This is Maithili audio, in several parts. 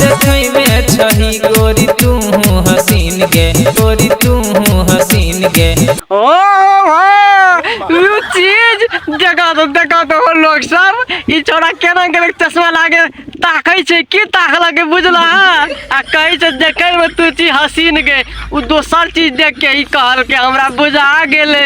देखै में छही गोरी तू हसीन गे गोरी तू हसीन गे ओ भाई यू चीज देखा दो देखा दो हो लोग सब ई छोरा केना के लोग चश्मा लागे ताकै छै की ताकला के बुझला आ कहै छै देखै में तू चीज हसीन के उ दोसर चीज देख के ई कहल के हमरा बुझा गेलै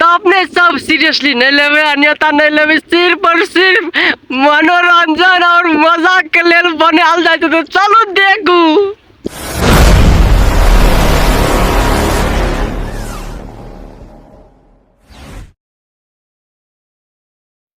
तऽ अपने सब सीरियसली नहि लेबै आ नेता नहि लेबै सिर्फ और सिर्फ मनोरंजन और मजा के लेल बनायल जाइ छै तऽ चलू देखू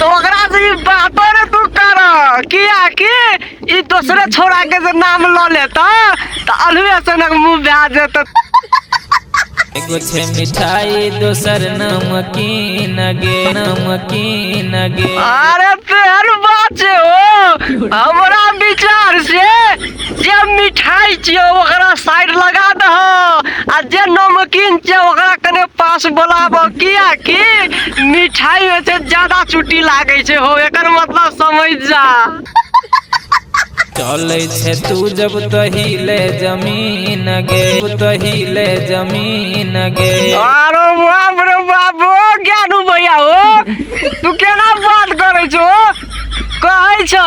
तऽ ओकरा से ई बातो ने तू कर कियाकि ई दोसरे छोड़ा के जे नाम लऽ लेता तऽ अलुए सनक मुंह भए जेतौ एगो छै मिठाई दोसर नमकीन गे नमकीन गे अरे तेहन बात छै ओ हमरा विचार से जे मिठाई छियै ओकरा साइड लगा दह आ जे नमकीन छियै ओकरा कने पास बोलाब किया कि मिठाई में से ज्यादा चुटी लागे छै हो एकर मतलब समझ जा चले छे तू जब तहिले जमीन गे तहिले जमीन गे अरे बाप रे बाप ओ ज्ञानू भैया हो तू केना बात करे छो कहै छ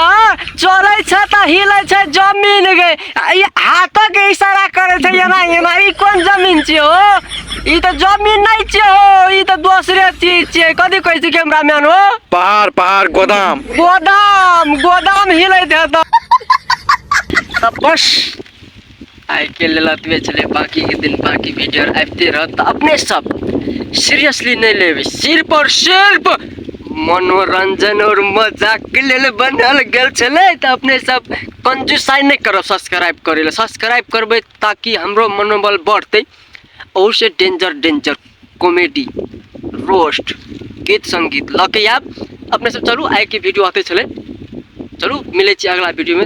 चलै छ त हिलै छ जमीन गए ई हाथक इशारा करै छै एना एना ई कोन जमीन छियै हो ई त जमीन नै छियै हो ई त दोसरे चीज छियै कथी कहै छी कैमरामैन हो पहाड़ पहाड़ गोदाम गोदाम गोदाम हिलैत हेतौ त बस आइके लेल एतबे छलै बाँकीके दिन बाँकी वीडियो आबिते रहत तऽ अपने सब सीरियसली नहि लेबै सिर्फ आओर सिर्फ मनोरंजन और मजाक के लेल बनायल गेल छलै तऽ अपने सब कंजूसाई नहि करब सब्सक्राइब करै लए सब्सक्राइब करबै ताकि हमरो मनोबल बढ़तै अवश्य डेंजर डेंजर कॉमेडी रोस्ट गीत संगीत लऽ के आयब अपने सब चलू आइ के वीडियो आते छलै चलू मिलै छी अगला वीडियो में